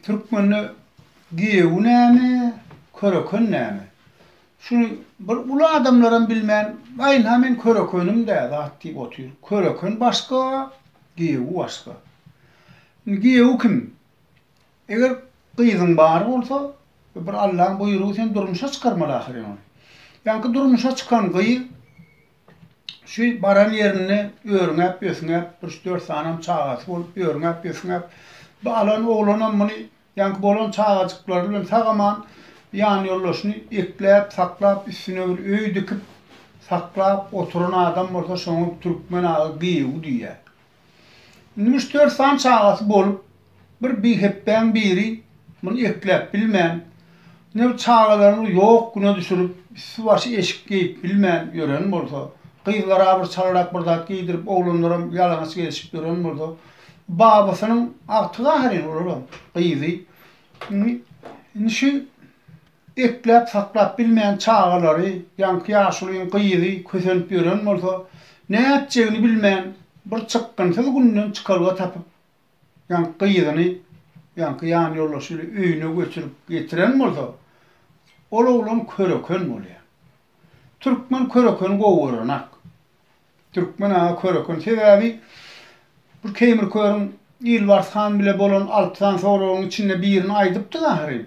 Türkmende giýewi näme, köreken näme? Şuny bir uly adamlaram bilmän, baýynha men körekenim-dä zat diýip otyr. Köreken başga, giýewi başga. Indi giýewi kim? Eger gyzyň bar bolsa, bir Allaň buýrugy sen durmuşa çykarmaly ahyryn ony. Ýaňky durmuşa çykan gyz Şu baran ýerinde örňäp-ösňäp, üç-dört sanam çagasy bolup, örňäp-ösňäp, bu alan oglanam muny ýaňky bolan çagajyklary bilen sag-aman ýanýoldaşyny ekläp, saklap, üstüne bir öý dikip, saklap oturan adam bolsa şoňa Türkmen aga gyýw diýýär. Indi müş-dört sany çagasy bolup, bir bihepbäň biri muny ekläp bilmän, ine bu çagalaryňy ýok güne düşürip, üsti-başy eşik geýip bilmän ýören bolsa, gyzlara bir çalyrak bir zat geýdirip, oglanlaram ýalaňaç gezişip ýören bolsa, babasynyň agtygy ahyryn olaram, gyzy. Indi, indi şu. Ekläp saklap bilmän çagalary, ýaňky ýaşulyň gyzy kösenip ýören bolsa, nätjegini bilmän, bir çykgynsyz günden çykalga tapyp, ýaňky gyzyny, ýaňky ýanýoldaşy ile öýüne göçürip getiren bolsa, ol oglan köreken bolýar. Türkmen körekeni gowy görenak. Türkmen aga köreken. Sebäbi bir Keýmir körüň Ilbars han bile bolan alty sany soragyň içinde birini aýdypdyk ahyryn.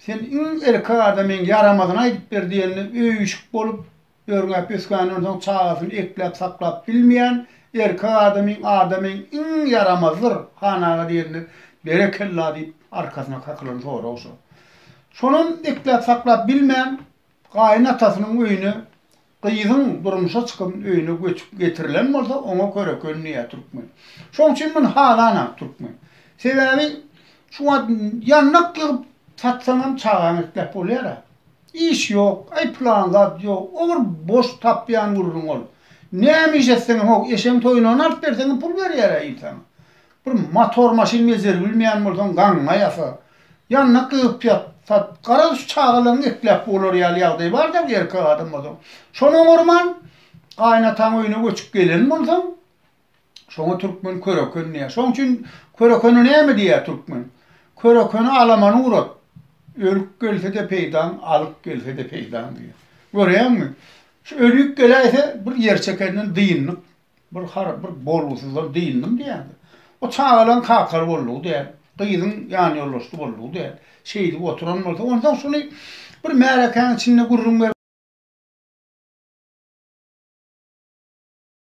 Sen iň ilki adamyň ýaramazyny aýdyp ber diýende öýüşik bolup, örňäp ösgänden soň çagasyny ekläp saklap bilmeýän erkek adamyň adamyň iň ýaramazydyr han aga diýende berekella diýip arkasyna kakylan sorag şo. Şonam ekläp saklap bilmän gaýynatasynyň öýüne Gyzyň durmuşa çykan öýüne göçüp getirilen bolsa, oňa köreken diýýär türkmen. Şoň üçin muny halanok türkmen. Sebäbi şu wagt ýandak ýygyp satsaňam çagaňy ekläp bolýar-a. Iş ýok, aý plan zat ýok, o bir boş tapýan gürrüň ol. Näme iş etseňem, ho, eşegiň toýuny ony alyp berseňem pul berýär-ä il saňa. Bir motor maşyn bejeri bilmeýän bolsaň gaňňa ýasa. Ýanyna gygyp ýat, sat. Garaz şu çagalaň gepläp bolar ýaly ýagdaý bar-da erkek adam bolsaň. Şony oňarman gaýynataň öýüne göçüp gelen bolsaň, şoňa türkmen köreken diýýär. Şoň üçin körekene näme diýýär türkmen? Körekeni alamany urat. Ölüp gelse-de peýdaň, alyp gelse-de peýdaň diýýär. Görýäňmi? Şu ölüp geläýse bir ýer çekenden dyndyk. Bir har bir bolgusyzlar dyndyň diýýärdi. O çagalaň kakar boldugy däl, gyzyň ýanýoldaşdy boldugy däl. Şeýdip oturan bolsa, onsoň şuny bir märekäň içinde gürrüň berip.